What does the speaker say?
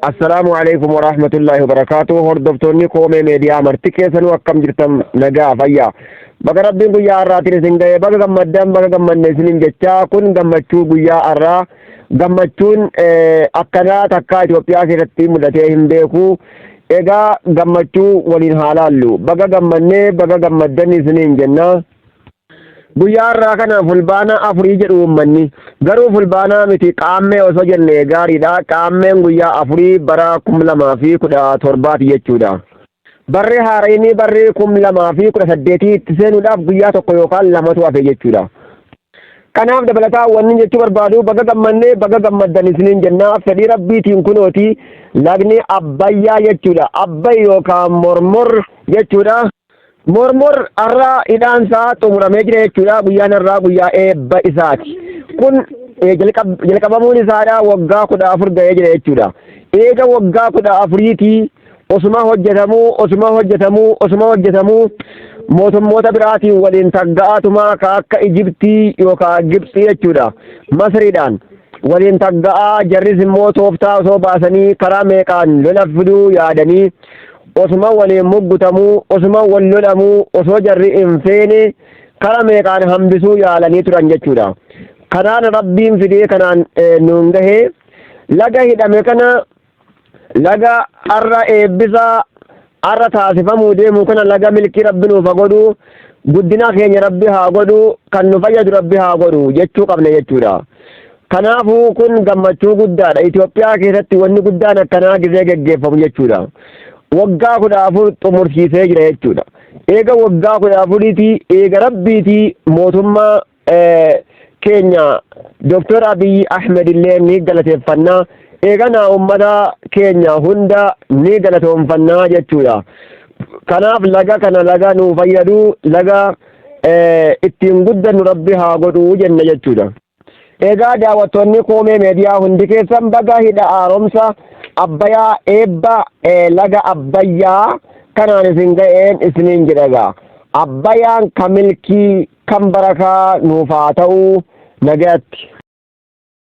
Assalaamu alaikum wa rahmatullahi wa barakaatu. Hordoftoonni koomee meediyaa marti keessanuu akkam jirtan nagaa fayyaa. Baga rabbiin guyyaa har'aatiin isin ga'e baga gammaddan baga gammanne isiniin jechaa kun gammachuu guyyaa har'aa gammachuun akkanaa takkaa Itoophiyaa keessatti mudatee hin beeku. Egaa gammachuu waliin haa laallu. Baga gammannee baga gammaddan isiniin jenna. Guyyaa har'aa kana fulbaana afurii jedhu uummanni. Garuu fulbaanaa miti qaammee osoo jenne gaariidha. Qaammeen guyyaa afurii bara kum lamaa fi kudha torbaati jechuudha. Barri haarayni barri kum lamaa fi kudha saddeetii itti seenuudhaaf guyyaa tokko yookaan lamatu hafe jechuudha. Kanaaf dabalataa wanni jechuu barbaadu baga gammanne baga gammaddan isiniin jenna fedhii rabbiitiin kunooti lagni abbayyaa jechuudha. Abbay yookaan mormor jechuudha. Mormor har'aa hidhaan isaa xumuramee jira jechuudha. Guyyaan har'aa guyyaa eebba isaati. Kun eh, jalqab- jalqabamuun isaadha waggaa kudha afur ga'ee jira jechuudha. Eega waggaa kudha afuriitii osuma hojjetamuu osuma hojjetamuu osuma hojjetamuu mootummoota biraatiin waliin tagga'aatuma ka akka Ijibtii yookaan Gibxii jechuudha. Masriidhaan waliin tagga'aa jarris immoo tooftaa osoo baasanii karaa meeqaan lola fiduu yaadanii osuma waliin muggutamuu osuma wal lolamuu osoo jarri hin feene kara meeqaan hambisuu yaalanii turan jechuudha kanaan rabbiin fidee kanaan nuun gahe laga hidhame kana laga arra eebbisaa arra taasifamuu deemu kana laga milkii rabbi nuuf haa godhu guddina keenya rabbi haa godhu kan nu fayyadu rabbi haa godhu jechuu qabna jechuudha. Kanaafuu kun gammachuu guddaadha. Itoophiyaa keessatti wanni guddaan akkanaa gizee geggeeffamu jechuudha. Waggaa kudha afur xumursiisee jira jechuudha. Eega waggaa kudha afuriitii eega rabbiitii mootummaa keenya Dooktar Abiyyi Ahmed illee ni galateeffannaa. Eeganaa uummata keenya hunda ni galatoomfannaa jechuudha. Kanaaf laga kana laga nuu fayyadu laga ittiin guddannu rabbi haa godhu jenna jechuudha. Egaa daawwattoonni Koomee Meediyaa hundi keessan baga hidha haaromsa Abbayaa eebba laga Abbayyaa kanaan isin ga'een isiniin jedha egaa. Abbayaan kan milkii kan barakaa nuuf haa ta'u nagayatti.